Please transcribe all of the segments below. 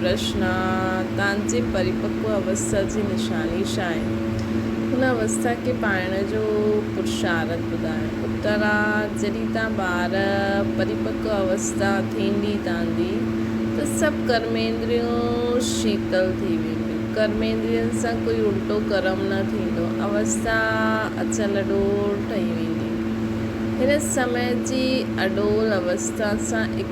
پرشن، تان جي پريپڪو اوستا جي نشاني ڇا آهن؟ هن اوستا کي پائڻ جو پرشارٿ ٻڌايو. اتر، جڏهن تان ٻار پريپڪو اوستا ٿيندي تاندي ته سڀ ڪرميندريون شيتل ٿي وينديون. ڪرميندرين سان ڪوئي الٽو ڪرم نه ٿيندو. اوستا اچل اڏول ٺهي ويندي. هن سمي جي اڏول اوستا سان اڪ.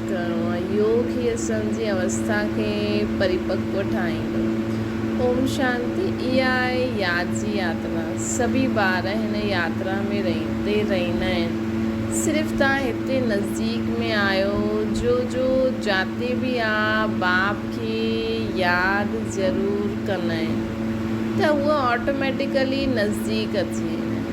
ڪرڻو آهي. يوگ هي اسهن جي اوسٿا کي پريپڪو ٺاهيندو. اوم شانتي اها آهي ياد جي ياترا. سڀئي ٻار هن ياترا ۾ رهين تي رهندا آهن. صرف توهان هتي نزديڪ ۾ آهيو جو جو جاتي به آ باپ کي ياد ضرور ڪندائين ته هوء آٽوميٽيڪلي نزديڪ اچي ويندائين.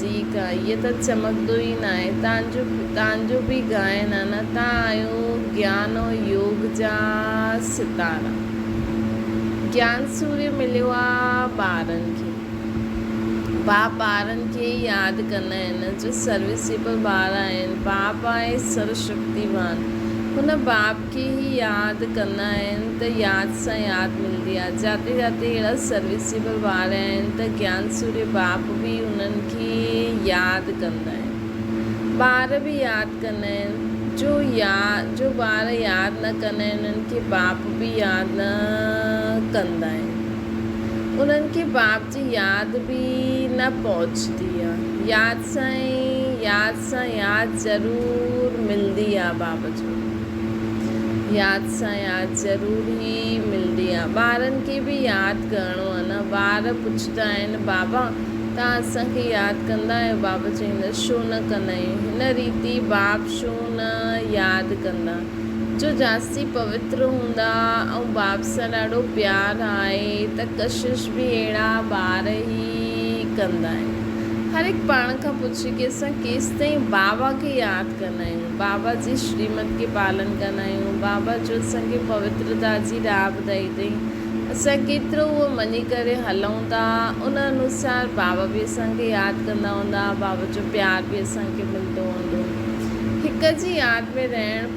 جي ڪا ايء ته چمڪندو ئي ناهي. تان جو به ڳائن آهن. تان آهيو گيان ۽ يوگ جا ستارا. گيان سوريو مليو آ ٻارن کي. باپ ٻارن کي ئي ياد ڪندا آهن. جو سروسيبل ٻار آهن. باپ آهي سرو شڪتيوان. هن باپ کي. کي هي ياد ڪندا آهن ته ياد سان ياد ملندي آهي. جاتي جاتي اهڙا سروسيبل واري آهن ته گيان سوري باپ به انهن کي ياد ڪندا آهن. ٻار به ياد ڪندا آهن. جو جو ٻار ياد نه ڪندا آهن انهن کي باپ به ياد نه ڪندا آهن. انهن کي باپ جي ياد به نه پهچندي آهي. ياد سان ياد. سان ياد ضرور ملندي آ باب جو ياد سان ياد ضرور هي ملندي آ ٻارن کي به ياد ڪرڻو آ نه ٻار پڇندا آهن بابا توهان اسان کي ياد ڪندا آهيو باب چئي نه شو نه ڪندا آهيون هن ريتي باب شو نه ياد ڪندا جو جاستي پوتر هوندا ۽ باب سان ڏاڍو پيار آهي ته ڪشش به اهڙا ٻار هي ڪندا آهن هر هڪ پاڻ کان پڇندو شڪيسان ڪيستائين بابا کي ياد ڪندا آهيون، بابا جي شريمت کي پالن ڪندا آهيون، بابا جو اسان کي پوترتا جي راهه ٻڌائي اٿئي، اسان ڪيترو اهو مڃي ڪري هلون ٿا، ان انوسار بابا به اسان کي ياد ڪندا هوندا، بابا جو پيار به اسان کي ملندو هوندو. هڪ جي ياد ۾ رهڻ.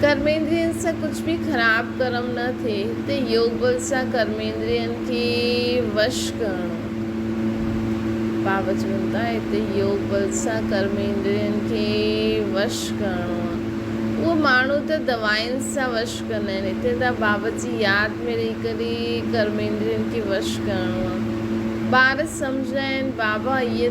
ڪرميندرين سان ڪجهه به خراب ڪرم نه ٿئي ته يوگ بل سان ڪرميندرين کي وش ڪرڻو اهو ماڻهو ته دوائن سان وش ڪندا آهن هتي ته بابت جي ياد ۾ رهي ڪري ڪرميندرين کي وش ڪرڻو آهي ٻار سمجهندا آهن بابا هيء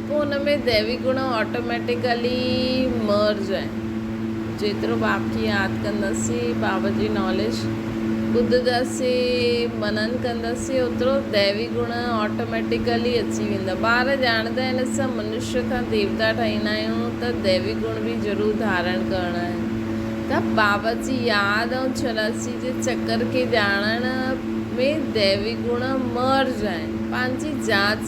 پوء ان ۾ ديوي گڻ آٽوميٽيڪلي مرج آهن. جيترو باب کي ياد ڪنداسين، باب جي ناليج ٻڌ جا سي منن ڪنداسين، اوترو ديوي گڻ آٽوميٽيڪلي اچي ويندا. ٻار ڄاڻندا آهن اسان منشي کان ديوتا ٺهيندا آهيون ته ديوي گڻ به ضرور ڌارڻ ڪرڻا آهن ته باب جي ياد ۽ چوراسي جي چڪر کي ڄاڻڻ ۾ ديوي گڻ مرج آهن. پنهنجي جاچ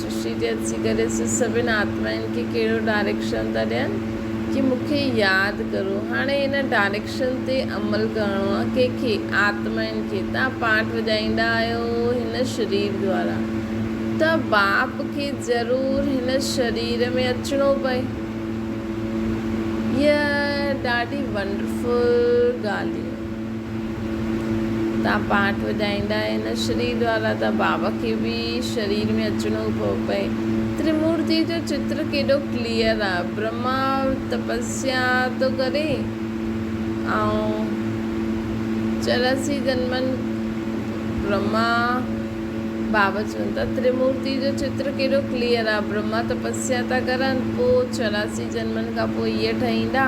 سرشتي جي اچي ڪري سي سڀن آتمائن کي ڪهڙو ڊائريڪشن ٿا ڏين ڪي مون کي ياد ڪرو هاڻي ان ڊائريڪشن تي عمل ڪرڻو آ ڪي کي آتمائن کي تان پاٽ وڄائيندا آهيو هن شرير دوارا ته باپ کي ضرور هن شرير ۾ اچڻو پئي هي ڏاڍي ونڊرفل ڳالهيون. تان پاٽ وڄائيندا آهن. شري دوارا تان بابا کي به شرير ۾ اچڻو پيو پئي. ترمورتي جو چتر ڪيڏو ڪليئر آ. برهما تپسيا ٿو ڪري ۽ چوراسي جنمن برهما بابا چون ٿا ترمورتي جو چتر ڪيڏو ڪليئر آ. برهما تپسيا ٿا ڪرن پوء چوراسي جنمن کان پوء هيء ٺهيندا.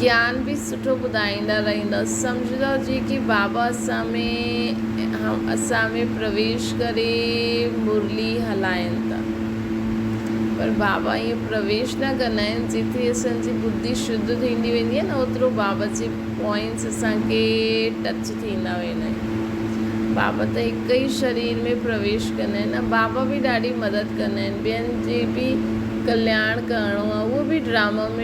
جيان به سٺو ٻڌائيندا رهندا سمجهدا جيڪي بابا اسان ۾ اسان ۾ پرويش ڪري مرلي هلائين ٿا پر بابا ائين پرويش نه ڪندا آهن جيتري اسان جي ٻڌي شڌ ٿيندي ويندي آهي نه اوترو بابا جي پوائنٽس اسان کي ٽچ ٿيندا ويندا آهن بابا ته هڪ ئي شرير ۾ پرويش ڪندا آهن ۽ بابا به ڏاڍي مدد ڪندا آهن ٻين جي به ڪلياڻ ڪرڻو آهي اهو به ڊراما ۾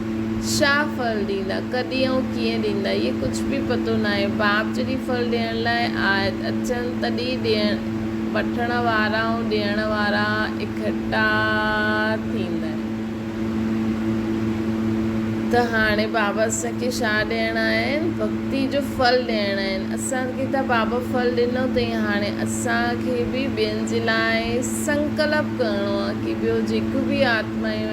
شاهه ڦل ڏيندا، ڪڏهن ۽ ڪيئن ڏيندا اهي ڪجهه به پتو ناهي، باپ جڏهن ڦل ڏيڻ لاء آيت اچن تڏهن ڏيڻ وٺڻ وارا ۽ ڏيڻ وارا اڪٺا ٿيندا آهن ته هاڻي بابا اسان کي شاهه ڏيڻ آيا آهن، ڀڳتي جو ڦل ڏيڻ آيا آهن، اسان کي ته بابا ڦل ڏنو تئين هاڻي اسان کي به ٻين جي لاء سنڪلپ ڪرڻو آهي ڪي ٻيو جيڪو به آتمائيون آهن،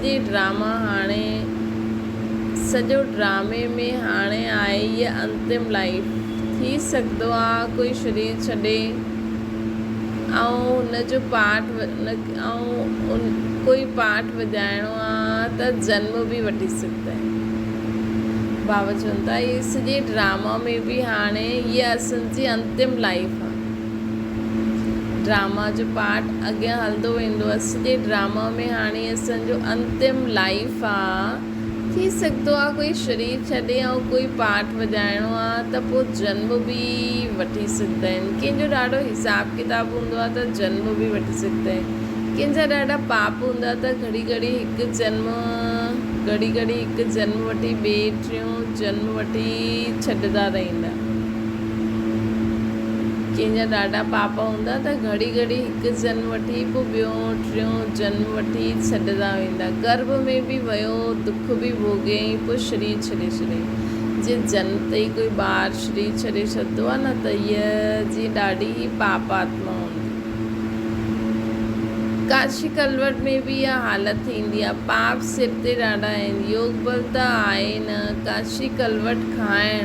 ڪي ڊراما هاڻي سڄو ڊرامي ۾ هاڻي آهي هيء انتم لائيف ٿي سگهدو آ ڪوئي شرير ڇڏي ۽ هن جو پاٽ ۽ ڪوئي پاٽ وڄائڻو آ ته جنم به وٺي سگهدئ باوجون ته هي سڄي ڊراما ۾ به هاڻي هيء اسنجي انتم لائيف آ. ڊراما جو پارٽ اڳيان هلندو ويندو اس جي ڊراما ۾ هاڻي اسن جو انتم لائيف آ ٿي سگهندو آ ڪوئي شرير ڇڏي ۽ ڪوئي پارٽ وڄائڻو آ ته پو جنم به وٺي سگهندا آهن ڪنهن جو ڏاڍو حساب ڪتاب هوندو آ ته جنم به وٺي سگهندا آهن ڪنهن جا ڏاڍا پاپ هوندا آ ته گهڙي گهڙي هڪ جنم گهڙي گهڙي هڪ جنم وٺي ٻي ٽيون جنم وٺي ڇڏندا رهندا ڪنهن جا ڏاڍا پاپ هوندا ته گهڙي گهڙي هڪ جنم وٺي پوء ٻيو ٽيون جنم وٺي ڇڏندا ويندا. گرڀ ۾ به ويو دک به ڀوڳيائين پوء شرير ڇڏي ڇڏيائين. جي جنم تي ئي ڪوئي ٻار شرير ڇڏي ڇڏندو آهي نه ته هيء جي ڏاڍي ئي پاپ آتما هوندي. ڪاشي ڪلوٽ ۾ به اها حالت ٿيندي آهي. پاپ سر تي ڏاڍا آهن. يوگبل ته آهي نه ڪاشي ڪلوٽ کائڻ.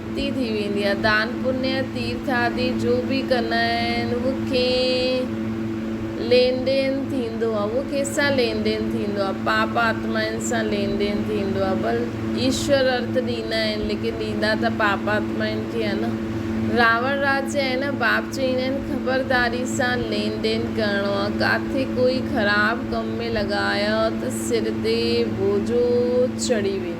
ڪي ٿي ويندي آ دان پنيء تيرٿ آدي جو به ڪن آهن اهو ڪئين لين ڏين ٿيندو آ اهو ڪنهن سان لين ڏين ٿيندو آ پاپ آتمائن سان لين ڏين ٿيندو آ بل ايشور ارٿ ڏيندا آهن ليڪن ڏيندا ته پاپ آتمائن کي آ نه راوڻ راج چي آهي نه باپ چئيندا آهن خبرداري سان لين ڏين ڪرڻو آ ڪاٿي ڪوئي خراب ڪم ۾ لڳايو ته سر تي بوجهو چڙهي ويندو.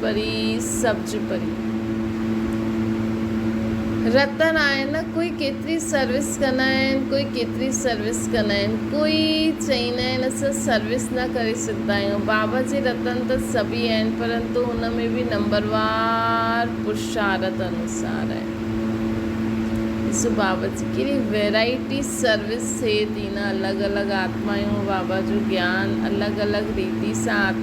پري سبج پري رتن آهن ڪوئي ڪيتري سروس ڪندا آهن ڪوئي ڪيتري سروس ڪندا آهن ڪوئي چئيندا آهن اسان سروس نه ڪري سگهندا آهيون بابا جي رتن ته سڀئي آهن پرنتو ان ۾ به نمبروار پرشارت انوسار آهن ڏسو بابا جي ڪهڙي ويرائٽي سروس ٿئي ٿي نه الڳ الڳ آتمايون بابا جو گيان الڳ الڳ ريتي سان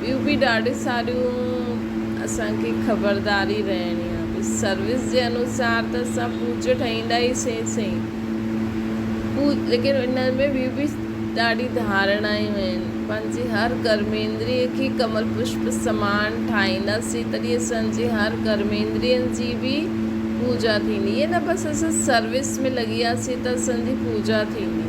ٻيون به ڏاڍي ساريون اسان کي خبرداري رهڻي آهي ڀي سروس جي انوسار ته اسان پوچو ٺهيندا ئي سين سين پو ليڪن ان ۾ ٻيون به ڏاڍي ڌارڻايون آهن پنهنجي هر ڪرميندري کي ڪمل پشپ سمان ٺاهينداسين تڏهن اسان جي هر ڪرميندرين جي به پوجا ٿيندي ائين نه بس اسان سروس ۾ لڳي وياسين ته اسان جي پوجا ٿيندي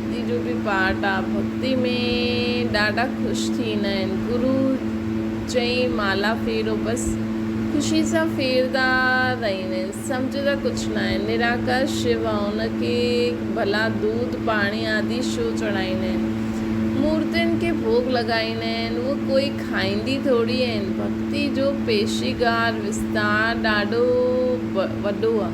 جي جو به پاٽ آ ڀڳتي ۾ ڏاڍا خوش ٿيندا آهن گرو چئين مالا ڦيرو بس خوشي سان ڦيردا رهيندا آهن سمجهه ته ڪجهه ناهي نراڪار شو آ ان کي ڀلا دود پاڻي آدي شو چڙهائيندا آهن مورتين کي ڀوڳ لڳائيندا آهن اهي ڪوئي کائيندي ٿوري آهن ڀڳتي جو پيشيگار وستار ڏاڍو وڏو آ.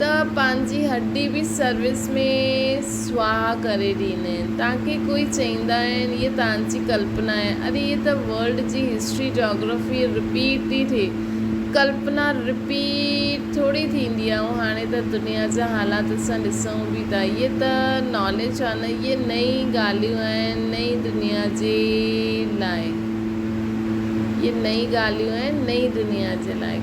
ته پنهنجي هڏي به سروس ۾ سواهه ڪري ڏيندا آهن تانڪه ڪوئي چئيندا آهن هيء تانجي ڪلپنا آهي اري هيء ته ورلڊ جي هسٽري جاگرافي رپيٽ ٿي ٿئي ڪلپنا رپيٽ ٿوري ٿيندي آهي ۽ هاڻي ته دنيا جا حالات اسان ڏسون به ٿا هيء ته ناليج آهي نه هيء نئين ڳالهيون آهن نئين دنيا جي لاء هيء نئين ڳالهيون آهن نئين دنيا جي لاء.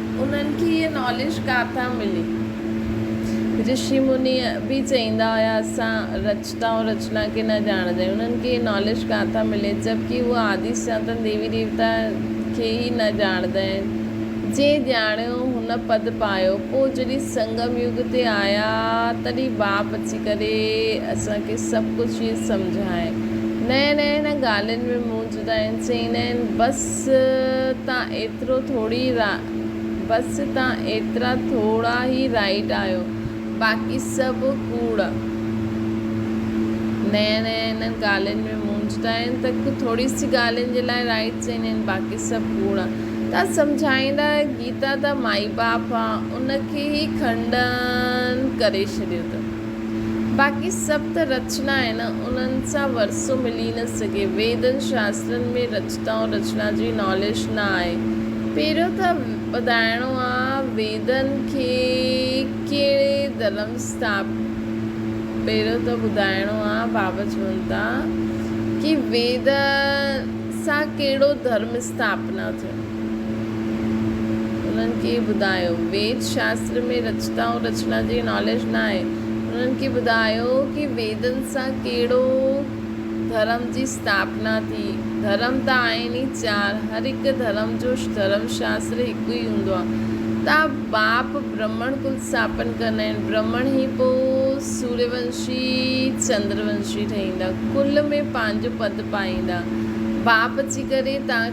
انهن کي هيء ناليج ڪاتان ملي؟ رشي مني به چئيندا هيا اسان رچتا ۽ رچنا کي نه ڄاڻندا آهيون. انهن کي هيء ناليج ڪاتان ملي؟ جبڪه هو آدي سناتن ديوي ديوتا کي ئي نه ڄاڻندا آهن. جنهن ڄاڻيو، هن پد پايو. پوء جڏهن سنگم يگ تي آيا تڏهن باپ اچي ڪري اسان کي سڀ ڪجهه سمجهائين. نئين نئين ڳالهين ۾ منهنجي. تائين چئين آهن بس تان ايترو ٿوڙي بس تان ايترا ٿوڙا ئي رائٽ آهيو باقي سڀ ڪوڙ نئين نئين انهن ڳالهين ۾ مونجهه ٿا آهن ته ڪو ٿوڙي سي ڳالهين جي لاء رائٽ چئين آهن باقي سڀ ڪوڙ ٿا سمجهائيندا گيتا ته مائي باپ آ ان کي ئي کنڊن ڪري ڇڏيو ته. باقي سڀ ته رچنا آهن، انهن سان ورثو ملي نه سگهي. ويدن، شاسترن ۾ رچتا ۽ رچنا جي نالش نه آهي. پهريون ته ٻڌائڻو آ، ويدن کي ڪهڙي ڌرم ستاپ پهريون ته ٻڌائڻو آ، بابا چون ٿا ڪي ويد سان ڪهڙو ڌرم ستاپنا ٿيو. انهن کي ٻڌايو ويد شاستر ۾ رچتا ۽ رچنا جي ناليج نه آهي. انهن کي ٻڌايو ڪي ويدن سان ڪهڙو ڌرم جي استاپنا ٿي. ڌرم ته آهن ئي چار. هر هڪ ڌرم جو ڌرم شاستر هڪ ئي هوندو آهي. تان باپ برهمڻ ڪل استاپن ڪندا آهن. برهمڻ ئي پوء سوريه ونشي چندر ونشي ٺهيندا. ڪل ۾ پنهنجو پد پائيندا. باپ اچي ڪري تان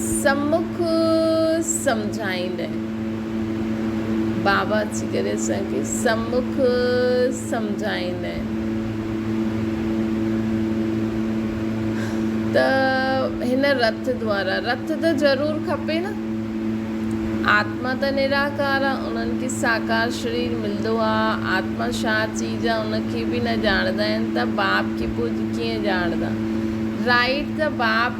سمک سمجهائيندين. بابا اچي ڪري اسان کي سمک سمجهائيندين ته هن رٿ دوارا، رٿ ته ضرور کپي نه، آتما ته نراڪار آ، انهن کي ساڪار شرير ملندو آ، آتما ڇا چيز آ ان کي به نه ڄاڻندا آهن ته باب کي پوء ڪيئن ڄاڻندا. رائيٽ ته باب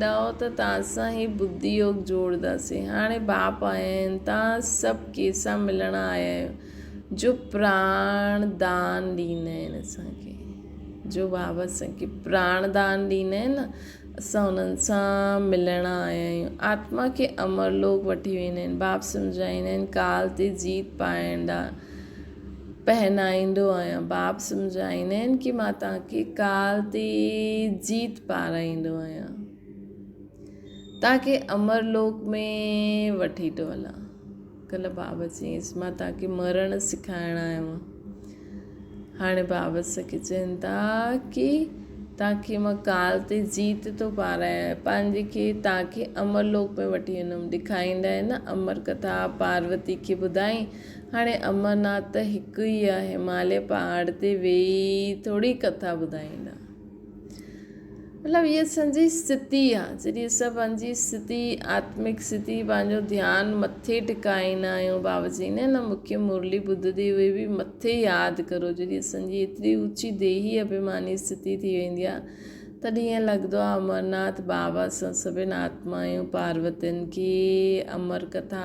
ڏائو ته توهان سان هي ٻڌي يوگ جوڙداسين. هاڻي ٻاپ آيا آهن، توهان سڀ ڪي سان ملڻ آيا آهيو، جو پراڻ دان ڏيندا آهن اسان کي، جو بابا اسان کي پراڻ دان ڏيندا آهن نه، اسان انهن سان ملڻ آيا آهيون. آتما کي امرلوڪ وٺي ويندا آهن. باب سمجهائيندا آهن ڪال تي جيت پائڻ ڏانهن پهنائيندو آهيان. باب سمجهائيندا آهن ڪي مان توهان کي ڪال تي جيت پارائيندو آهيان. توهان کي امر لوڪ ۾ وٺي ٿو هلان. ڪلهه باب چيس مان توهان کي مرڻ سکائڻ آيو آهيان. هاڻي باب کي چين ٿا ڪي توهان کي مان ڪال تي جيت ٿو پارايان پنهنجي کي توهان کي امر لوڪ ۾ وٺي ويندم. ڏيکاريندا آهن نه امر ڪٿا پاروتي کي ٻڌائين. هاڻي امرناٿ ته هڪ ئي آ، هماليه پهاڙ تي ويهي ٿوري ڪٿا ٻڌائيندا. مطلب هيء اسان جي استھتي آ، جڏهن اسان پنهنجي استھتي، آتمڪ استھتي، پنهنجو ڌيان مٿي ٽڪائيندا آهيون، بابا چئين آهن نه مکيه مرلي ٻڌندي هوئي به مٿي ياد ڪرو، جڏهن اسان جي ايتري اوچي ديهي ابهيماني استھتي ٿي ويندي آ، تڏهن ائين لڳندو آهي امرناٿ بابا سان سڀني آتمائن پاروتين کي امر ڪٿا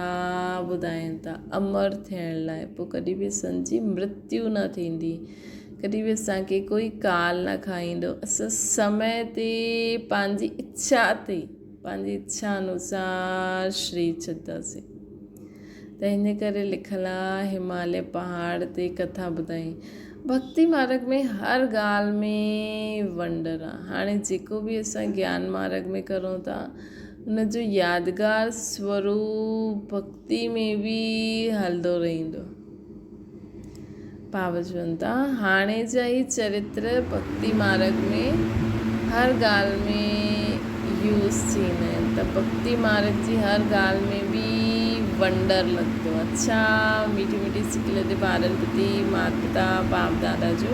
ٻڌائين ٿا امر ٿيڻ لاء پوء ڪڏهن به اسان جي مرتيو نه ٿيندي ڪڏهن به اسان کي ڪوئي ڪال نه کائيندو اسان سمي تي پنهنجي اڇا تي پنهنجي اڇا انوسار شري ڇڏتاسين ته ان ڪري لکل آ هماليه پهاڙ تي ڪٿا ٻڌائين ڀڳتي مارڳ ۾ هر ڳالهه ۾ ونڊر آ هاڻي جيڪو به اسان گيان مارڳ ۾ ڪرون ٿا ان جو يادگار سوروپ ڀڳتي ۾ به هلندو رهندو باوجود هاڻي جا هي چريتر ڀڳتي مارڳ ۾ هر ڳالهه ۾ يوز ٿيندا آهن ته ڀڳتي مارڳ جي هر ڳالهه ۾ به ونڊر لڳندو آهي اڇا ميٺي ميٺي سڪل تي ٻارڙ ٻڌي ماتا باپ دادا جو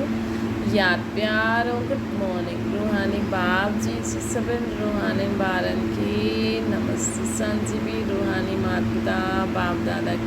ياد پيار ۽ گڊ مارننگ روحاني باپ جي سي سڀن روحانين ٻارن کي نمستي سان جي بي روحاني ماتا باپ دادا کي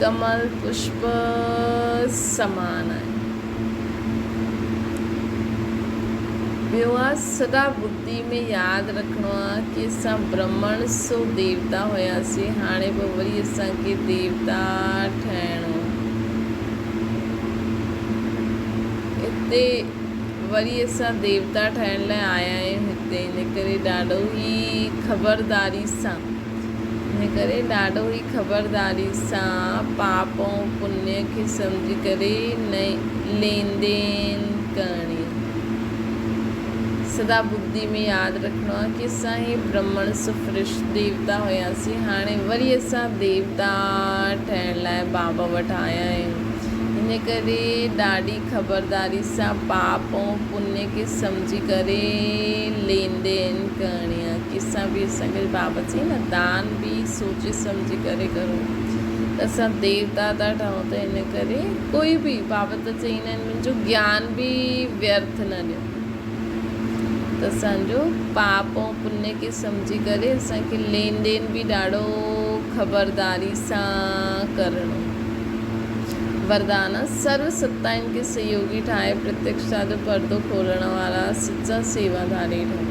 ڪمل پشپ سمان آهي. ٻيو آهي سدا ٻڌي ۾ ياد رکڻو آهي ڪي اسان برهمڻ سو ديوتا هياسين هاڻي به وري اسان کي ديوتا ٺهڻو هتي وري اسان ديوتا ٺهڻ لاء آيا آهيون هتي ان ڪري ڏاڍو ئي خبرداري سان ان ڪري ڏاڏو هي خبرداري سان پاپ ۽ پڃ کي سمجهي ڪري ليندين ڪرڻي سدا ٻڌي ۾ ياد رکڻو آهي ڪي اسان هي برهمڻ سفرش ديوتا هياسين هاڻي وري اسان ديوتا ٺهڻ لاء بابا وٽ آيا آهيون ان ڪري ڏاڏي خبرداري سان پاپ ۽ پڃ کي سمجهي ڪري ليندين ڪرڻي اسان به سنگت بابت جي نه دان به سوچي سمجهي ڪري ڪرون ته اسان ديوتا ٿا ٺهون ته ان ڪري ڪوئي به بابت چئين آهن منهنجو گيان به ويرٿ نه ڏيو ته اسان جو پاپ ۽ پڃ کي سمجهي ڪري اسان کي لين دين به ڏاڍو خبرداري سان ڪرڻو وردان سرو ستائن کي سهيوگي ٺاهي پرتيڪشتا جو پردو کولڻ وارا سچا سيوا ڌاري ٺهون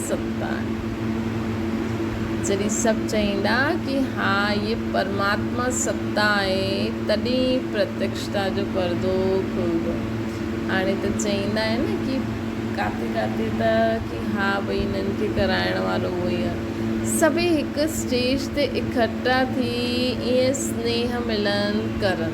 سلطان، جڏهن سڀ چئيندا ڪي ها هيء پرماتما ستا آهي، تڏهن پرتيڪشتا جو پردو کلندو. هاڻي ته چئيندا آهن ڪي ڪاٿي ڪاٿي ته ڪي ها ڀئي هنن کي ڪرائڻ وارو اهو ئي آهي. سڀئي هڪ اسٽيج تي اڪٺا ٿي ائين سنيهه ملن ڪرن.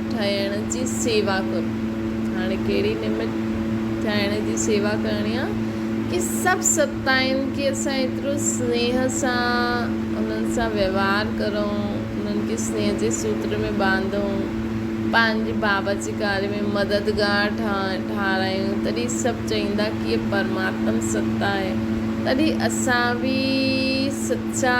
ٺاهڻ جي سيوا ڪرو. هاڻي ڪهڙي نمت ٺاهڻ جي سيوا ڪرڻي آ ڪي سڀ ستائين ڪي اسان ايترو سنيهه سان انهن سان وهوار ڪرون انهن کي سنيهه جي سوتر ۾ ٻانڌون پنهنجي بابت ڪاري ۾ مددگار ٺاهرايون تڏهن سڀ چئيندا ڪي هي پرماتم ستا آهي تڏهن اسان به سچا